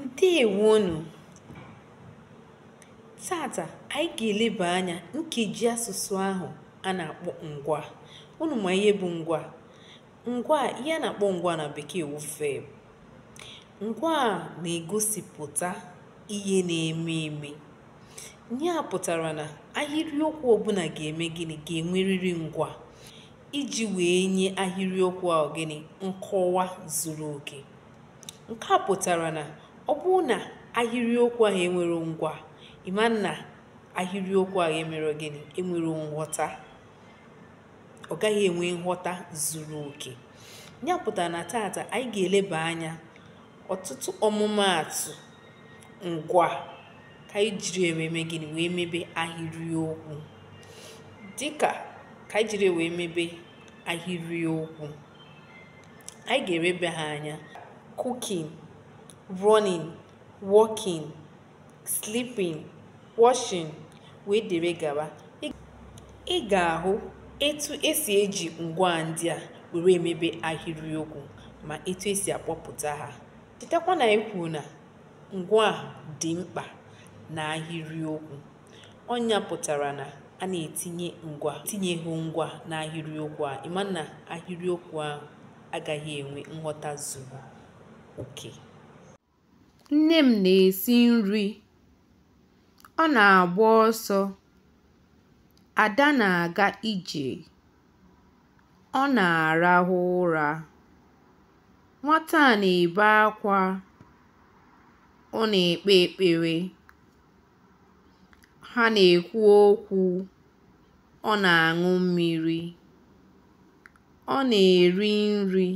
Ndewonu! Tata anyị ga-eleba anya nkeji asụsụ ahụ a na-akpọ ngwaa. Unu ma ihe bụ ngwaa? Ngwaa ihe a na-akpọ ngwaa na bekee wụ verb. Ngwaa na-egosipụta ihe na-eme eme. Ihe a pụtara na ahịrịokwu ọbụla ga-eme gịnị ga-enwerịrị ngwaa iji wee nye ahịrịokwu ahụ gịnị nkọwa zuru oke. nke a pụtara na ọ bụrụ na ahịrịokwu ahụ enwere ngwaa ị ma na ahịrịokwu ahụ emere gịnị enwere nghọta ọ gaghị enwe nghọta zuru oke ya pụtara na tata anyị ga-eleba anya ọtụtụ ọmụmaatụ ngwaa ka anyị jiri wee mee gịnị wee mebe ahịrịokwu dịka ka anyị jiri wee mebe ahịrịokwu anyị ga-elebe ha anya cooking running walking sleeping washing wee dere gaba ị ga-ahụ etu esi eji ngwaa ndị a were emebe ahịrịokwu ma etu esi akpọpụta ha chetakwa na anyị kwuru na ngwaa dị mkpa n'ahịrịokwu Ọ nya pụtara na a na-etinye ngwaa etinyeghị ngwaa n'ahịrịokwu a, ị ma na ahịrịokwu ahụ agaghị enwe nghọta zuru oke. Nne m na-esi nri. Ọ na-agba ọsọ. Ada na-aga ije. Ọ na-arahụ ụra. Nwata a na-ebe akwa. Ọ na-ekpe ekpere. Ha na-ekwu okwu. Ọ na-aṅụ mmiri. Ọ na-eri nri.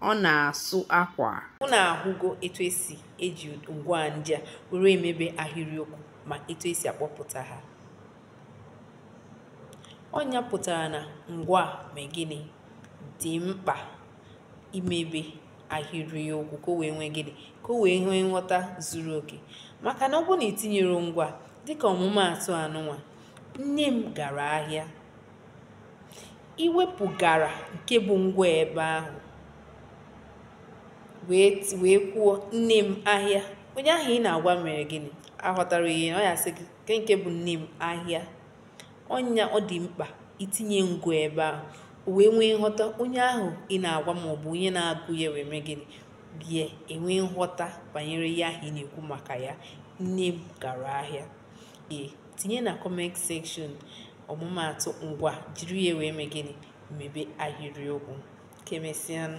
Ọ na-asụ akwa. Unu ahụgo etu esi eji ngwaa ndị a were emebe ahịrịokwu ma etu esi akpọpụta ha. Ọ nya pụtara na ngwaa mee gịnị? Dị mkpa imebe. ahịrịokwu ka o wee nwee gịnị ka o wee nwee nghọta zuru oke maka na ọ bụrụ na i tinyere ngwaa dịka ọmụmaatụ anụnwa nne m gara ahịa i wepụ gara nke bụ ngwaa ebe ahụ wee kwuo nne m ahịa onye ahụ ị na-agwa mere gịnị aghọtara ihe ọ ya-asị gị kee nke bụ nne m ahịa ọnya ọ dị mkpa itinye ngwa ebe ahụ o wee nwee nghọta onye ahụ ị na-agwa ma ọ bụ onye na-agụ ya wee mee gịnị bịa enwee nghọta banyere ihe ahụ ị na-ekwu maka ya nne m gara ahịa ee tinye na comment section ọmụmaatụ ngwa jiri ya wee mee gịnị mebe ahịrịokwu ka emesịanụ